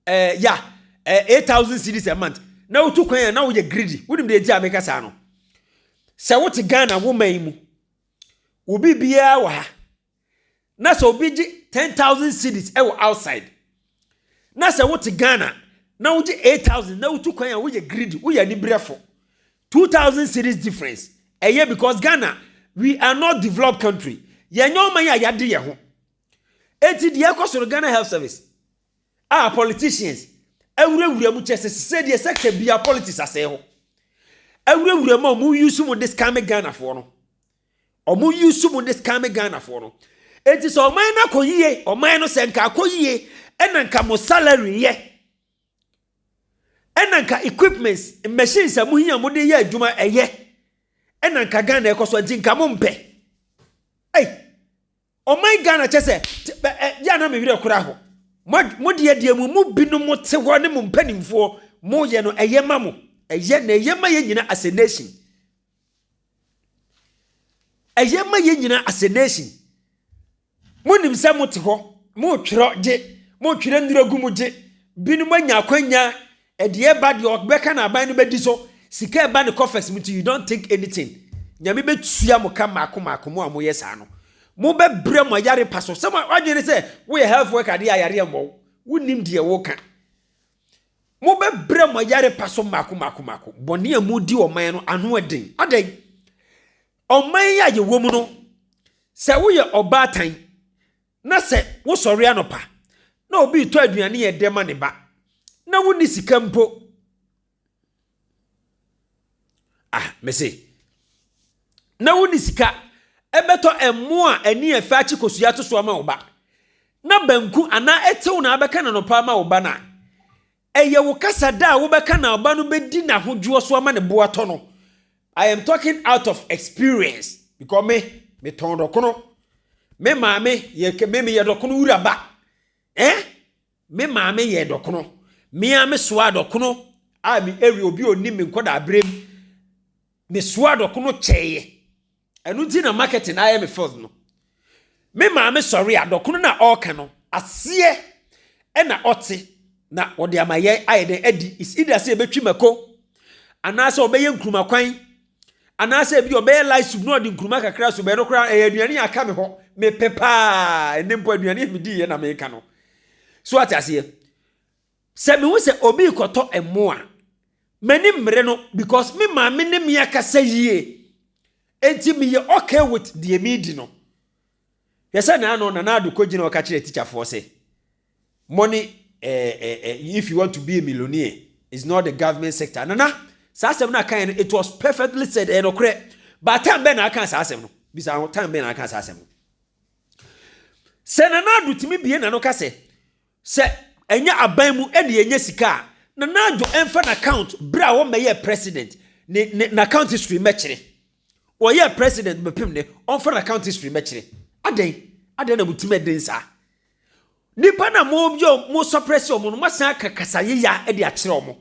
Eh, ya, eh, eight thousand cedis a month. Na wotu kwan a na woyɛ greedy. Wonim deɛ nti a meka saa no? Sɛ wote Ghana wo man mu, obi biara wɔ ha. Na sɛ obi gye ten thousand cedis wɔ outside. Na sɛ wote Ghana na wogye eight thousand na wotu kwan a woyɛ greedy, woyɛ anibrɛfo. Two thousand cedis difference. Ɛyɛ because Ghana we are not developed country. Yɛnyɛ ɔman a yɛade yɛ ho. Enti deɛ ɛkɔ so no Ghana Health Service a politicians awurawura mu kyɛ sɛ sɛ deɛ sɛ ka bia politics asɛe hɔ awurawura mu a wɔn use mu de scam ghanafoɔ no wɔn use mu de scam ghanafoɔ no eti sɛ ɔman no akɔ yie ɔman no sɛ nka akɔ yie ɛna nka mo salary yɛ ɛna nka equipments machines a mo hia mo de yɛ adwuma ɛyɛ ɛna nka ghana ɛkɔ so nti nka mo mpɛ ɛy. Hey. Ɔman Ghana kyɛ sɛ yɛ a na me werɛ kora ho. Mo deɛ deɛ mo mu binom te hɔ ne mo mpanimfoɔ mo yɛ no ɛyɛ ma mo. Ɛyɛ na ɛyɛ ma yɛ nyina as a nation. Ɛyɛ ma yɛ nyina as a nation. Mo nim sɛ mo te hɔ mo twerɛ gye mo twerɛ nnuro gu mo gye binom anya akwanya Ɛdeɛ ɛba deɛ ɔbɛka na aban no bɛdi so sika ɛba ne coffers mu nti you don't think anything Nyame bɛtua mo ka mmaako mmaako mo a moyɛ saa no mo bɛ brɛ mo ayare pa so sɛ mo adwene ne sɛ wo yɛ health worker deɛ ayare ɛmmɔ wo wo nim deɛ wo ka mo bɛ brɛ mo ayare pa so mmaako mmaako mmaako bɔne a mo di ɔman no ano ɛden adɛn ɔman yi a yɛwɔ mu no sɛ wo yɛ ɔbaatan Na sɛ wosɔre anɔpa na obi retɔ aduane yɛ dɛ ma ne ba, na wonni sika mpo. Ah, mese, na wonni sika ɛbɛtɔ ɛmo a ani ɛfɛ akye kosua ato so ama wo ba, na banku anaa ɛtew na abɛka n'anɔpa ama wo ba no a, Ɛyɛ wo kasa da a wobɛka na ɔba no bɛdi n'ahodwoɔ so ama ne bo atɔ no. I am talking out of experience because me, metɔn dɔkono. Me maame yɛ kɛ, me meyɛ dɔkono wura ba. Eh? Me maame yɛ dɔkono. Me a me soa dɔkono a me ɛwi obi onim me nkɔda abrem. Me soa dɔkono kyɛɛ. Ɛno nti na marketing na ayɛ me field no. Me maame sɔre a dɔkono na ɔreka no aseɛ ɛna ɔte na ɔde ama yɛ ayɛ dɛn adi is either sɛ ɛbɛtwi mako anaasɛ ɔbɛyɛ nkuruma kwan anaasɛ ebi ɔbɛyɛ light soup na ɔde nkuruma kakra so bɛyɛ no koraa ɛyɛ aduane aka me hɔ mepɛ paa ɛne mpo aduane a medi yɛ na meka no so ate aseɛ Sɛ mehu sɛ obi rekɔtɔ mmoa a, m'ani mmere no because me maame ne me akasa yie. Enti meyɛ okay with deɛ meredi no. Hwɛ sɛ naano Nana Addo kɔgyina hɔ ka kyerɛɛ tikyafoɔ sɛ, Mo ne eh, eh, eh, if you want to be a millionaire, it's not the government sector. Nana, saa asɛm no a kaeɛ no, it was perfectly said, ɛyɛ nokorɛ. But time bɛn na aka saa asɛm no? Bisa ho, time bɛn na aka saa asɛm no? Sɛ Nana Addo tumi bie n'ano ka sɛ, Sɛ ɛnyɛ aban mu na yɛnya sika a, Nana Addo mfa n'account berɛ a ɔmmɛyɛɛ president ne ne n'account history mmɛkyerɛ. Ɔyɛɛ president bɛpem nnɛ, ɔmfa n'account history mmɛkyerɛ. Adɛn? Adɛn na mo ti mɛden saa? Nnipa na mo yɛ mo suppress wɔn no, moasan aka kasa yeya de akyerɛ wɔn.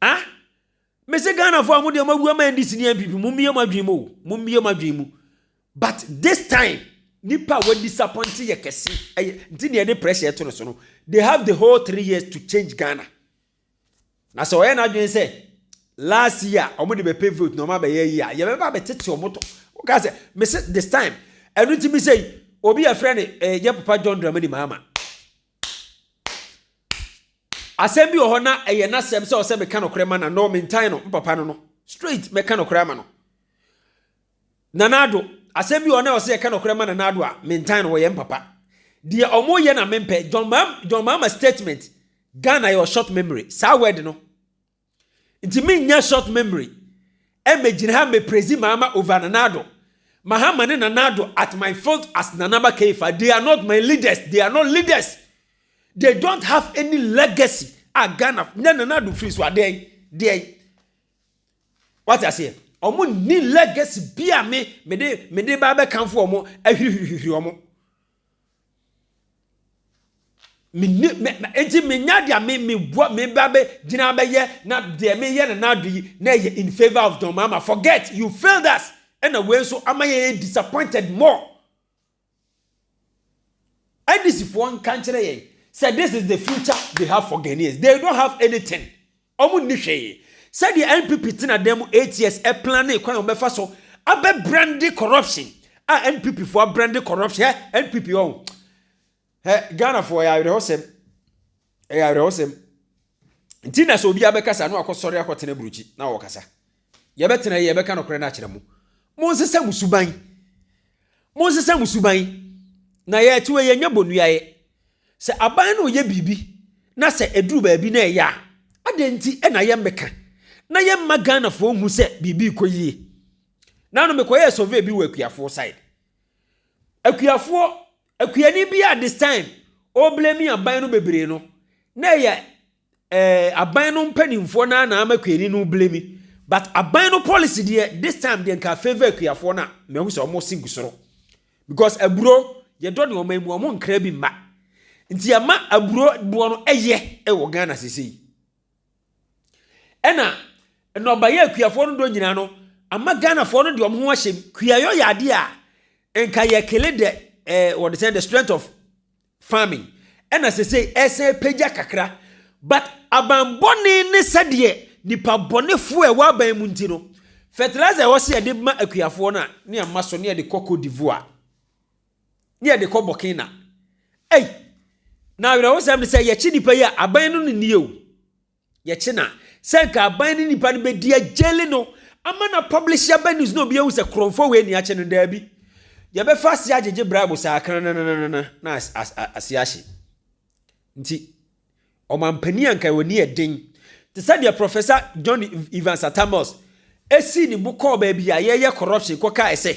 Ah? Mese Ghanafoɔ a mo deɛ mo awu ama NDC ne NPP, mo mmie mo adwene mu o, mo mmie mo adwene mu. But this time nipa a wa disappoint yɛ kɛse ɛyɛ nti na yɛde pressure ɛto no so no they have the whole three years to change Ghana na sɛ ɔyɛ n'adwene sɛ last year wɔn de bɛ pay vote na wɔn abɛyɛ yi a yɛbɛba abɛtete wɔn to wɔka sɛ mese this time ɛno ti mi sɛ obi yɛ frɛ ne ɛɛ eh, yɛ papa John Dramani Mahama asɛm bi wɔ hɔ na ɛyɛ n'asɛm sɛ ɔsɛ meka no korɛ ma na no mentan no mpapa no no straight mɛka no korɛ ama no Nana Addo, Asɛm bi wɔ hɔ na ɔsɛ yɛka nɔkorɛ ma Nana Addo a, mentan no, wɔyɛ mpapa. Deɛ ɔmo yɛ na mempɛ, John Mahama, John Mahama statement, Ghana yɛwɔ short memory, saa word no. Nti mennya short memory ɛmmɛgyina ha mmɛpraise Mahama over Nana Addo. Mahama ne Nana Addo at my foot as Nana Aba Keifa, they are not my leaders, they are not leaders. They don't have any legacy a Ghana, na Nana Addo firi so a, dɛn, deɛn? Wate aseɛ? Ɔmo ni legacy bi a me mede mede ba abɛkanfo ɔmo ahwirihwirihwiri ɔmo. Mene me enti menya deɛ me me bua me ba bɛ gyina bɛyɛ na deɛ meyɛ na n'ado yi na ɛyɛ in favour of John Mahama forget you failed us ɛna wei nso ama yɛ disappointed more. NDCfoɔ nka nkyerɛ yɛn sɛ this is the future they have for Ghanaians. They don't have anything. Wɔn nni hwee. Sɛdeɛ NPP tena dan mu eight years planning kwan a wɔbɛfa so abɛ brande corruption a NPP foɔ abrande corruption ɛ NPP ɔn ɛ Ghana foɔ yɛ awerɛhɔsɛm. ɛyɛ awerɛhosɛm nti na sɛ obi abɛkasa na wakɔsɔre akɔtena burukyi na wɔkasa yɛbɛtena yi yɛbɛka nokorɛ no akyerɛ mo monsesa mo suban monsesa mo suban na yɛte wɔ yɛnyɛ bɔnuayɛ sɛ aban no yɛ biribi na sɛ ɛduru baabi na ɛyɛ a adɛn nti na yɛmmɛka na yɛmma ghanafoɔ hu sɛ biribi kɔ yie na no mekɔyɛɛ survey bi wɔ akuafoɔ side akuafoɔ Akuani bi a this time ɔreblame aban no bebree no, na ɛyɛ eh, aban no mpanimfoɔ no ara na ama akuani no blame. But aban no policy deɛ this time deɛ nka favour akuafoɔ no a mahu sɛ wɔn se gu soro. Because aburo yɛdɔ ne wɔn mu wɔn nkra bi mma. Nti ɛma aburo boɔ no ɛyɛ ɛwɔ Ghana sese yi. Ɛna nnɔbaeɛ a kuafoɔ no dɔ nyinaa no ama Ghanafoɔ no de wɔn ho ahyɛ mu. Kuayɔ yɛ adeɛ a nka yɛ kele dɛ ɛɛ eh, wɔde sɛ the strength of farming ɛna sese ɛsɛ pagya kakra but abanbɔne ne sɛdeɛ nipa bɔnefoɔ ɛwɔ aban mu nti no fertilizer ɛwɔ sɛ yɛde ma akuafoɔ no a ne ama so ne yɛde kɔ Cote d'Ivoire. ne yɛde kɔ bɔkena ei na awerɛhosɛm ne sɛ yɛkye nipa yi a aban no ne nie o yɛkye na sɛ nka aban ne nipa no bɛdi agyele no ama na publish aba news na obi ahu sɛ korɔmfoɔ wei ni akye no daabi yɛbɛfa ase agyegye bribe saa kranananana na ase ahye nti ɔmampanin anka wɔ ni ɛden te sɛ deɛ professor john evans atamos ɛsii ne bo kɔɔ baabi a yɛyɛ corruption kɔkae sɛ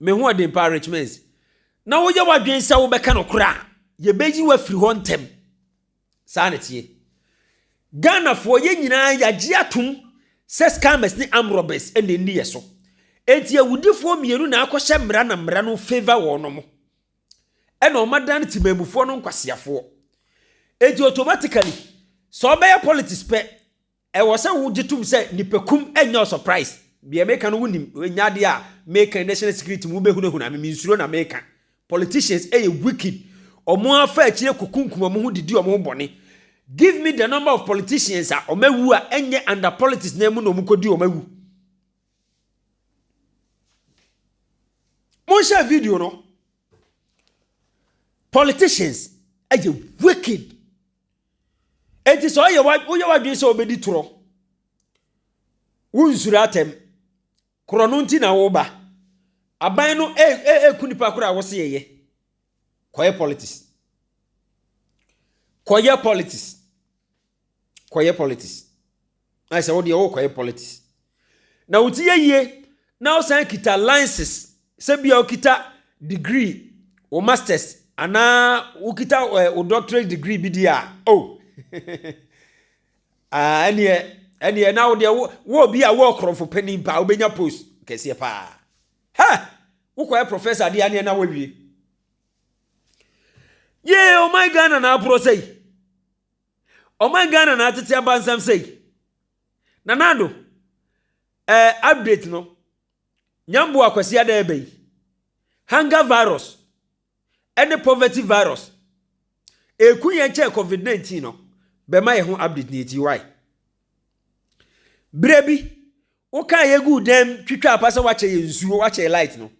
M'ahoɔden pa, Rich Mens. Na woyɛ w'adwene sɛ wobɛka nokorɛ a, yɛbɛyi wo afiri hɔ ntɛm. Saa na ɛteɛ. Ghanafoɔ yɛn nyinaa yɛagye atom sɛ scammers ne armed robbers na ɛnni yɛ so. Enti awudifoɔ mmienu na akɔhyɛ mmara na mmara no favour wɔnom. Ɛna wɔadane temanmufoɔ no nkwaseafoɔ. Enti automatically, sɛ wobɛyɛ politics pɛ, Ɛwɔ sɛ wo gye tom sɛ nipakum nyɛ ɔsɔpraes. Deɛ meka no wo nim, ɛnyɛ adeɛ a meka yi national security mu wo bɛ hunahuna me, me nsuro na meka. Politicians yɛ wicked, ɔmo afa akyire kokunkum ɔmo ho de di ɔmo ho bɔne. Give me the number of politicians a ɔmo awu a ɛnyɛ under politics nan mu na ɔmo kɔ di ɔmo awu. Monhyɛ video no. Politicians yɛ wicked. Enti sɛ ɔyɛ woyɛ w'adwene sɛ wobɛdi torɔ, wonsuro atɛm, korɔ no nti na woba. Aban no ɛku nipa korɔ a wose yɛyɛ. Kɔyɛ politics. Kɔyɛ politics. Kɔyɛ politics. ayɛ sɛ wodeɛ wokɔyɛ politics na wo ti yɛ yie na wosan kita license sɛ bia wokita degree wo masters anaa wokita eh, wo doctorate degree bi deɛ a o oh. ah, ɛneɛ ɛneɛ na wodeɛ wɔ bi a wɔ korɔmfo panin paa wobɛnya post kɛseɛ paa hɛ wokɔyɛ professor deɛ aneɛ na woawie yee ɔman oh ghana na aporɔ sɛ yi Ɔman Ghana na atete abansɛm sei. Nana Addo, eh, update no. Nyamboa Kwasi Ada ɛbɛ yi. Hunger virus ɛne poverty virus. Eku yɛn kyɛn COVID-19 no. Bɛma yɛ ho update ni eti why? Berɛ bi, Wokaa yɛ guu dan mu twitwaa pa sɛ woakyɛ yɛ nsuo, woakyɛ yɛ light no.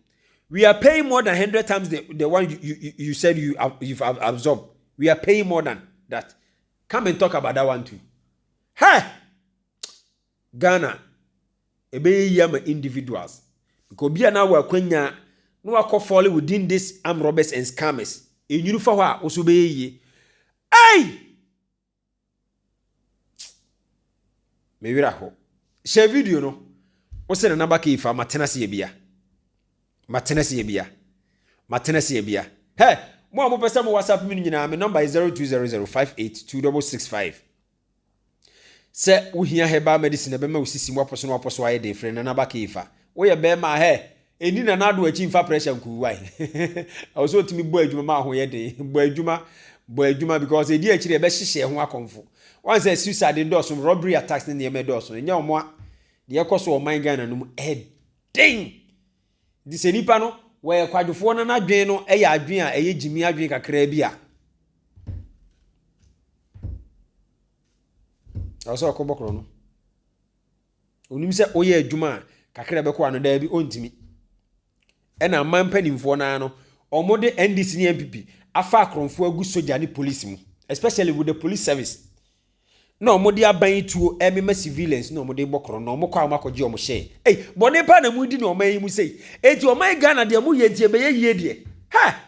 We are paying more than hundred times the, the one you, you, you said you, you've absorbed. We are paying more than that. Come and talk about that one too. Hey! Ghana, ɛbɛyɛ yi ama individuals. Because obi a na wɔ akwanya na wakɔ fall within this armed robbers and scammers. Enyini fa hɔ a, wo so bɛyɛ yie. Hey! Me werɛ aho. Hyɛ video no. Wo sɛ Nana Baka Ifa, matena se abia. Matena se abia. Matena se abia. Hɛ, mo a mopɛ sɛ mo WhatsApp me no nyinaa, me nɔmba yɛ 0200582665. Sɛ wohia herbal medicine a ɛbɛma wo sisi mu apɔ so na wapɔ so ayɛ den, frɛ Nana Baka Ifa. Woyɛ bɛrima a, hɛ, Ɛnni Nana Addo akyi mfa pressure nkuruwa he. Ɛwɔ sɛ otumi bɔ adwuma ma wo ho yɛ den. Bɔ adwuma, bɔ adwuma because ɛdi akyiri ɛbɛhyehyɛ ho akɔmfo. Woahu sɛ suicide dɔɔso, robbery attacks ne nneɛma dɔɔso. Ɛnyɛ wɔn a, deɛ ɛkɔ so wɔ ɔman Ghana no mu ɛden. Nti sɛ nipa no wɔyɛ kwadwofoɔ na n'adwene no yɛ adwene a ɛyɛ gyimii adwene kakraa bi a, ɛwɔ sɛ ɔkɔbɔ korɔno. Onim sɛ woyɛ adwuma a kakra bɛkɔ ano daabi ɔntumi. Ɛna aman mpanimfoɔ no ara no wɔde NDC ne NPP afa akorɔmfoɔ agu sogya ne polisi mu especially with the police service na wɔde aban yi tuo ɛmema civilians na wɔde bɔ korɔn na wɔkɔ a wɔakɔgye wɔn hyɛɛ ei bɔne pa na mudi na ɔman yi mu sei eti ɔman yi Ghana deɛ moyɛ nti ɛbɛyɛ yie deɛ ha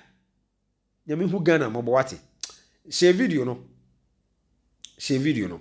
nyame hu Ghana mmɔbɔ wate hyɛ video no hyɛ video no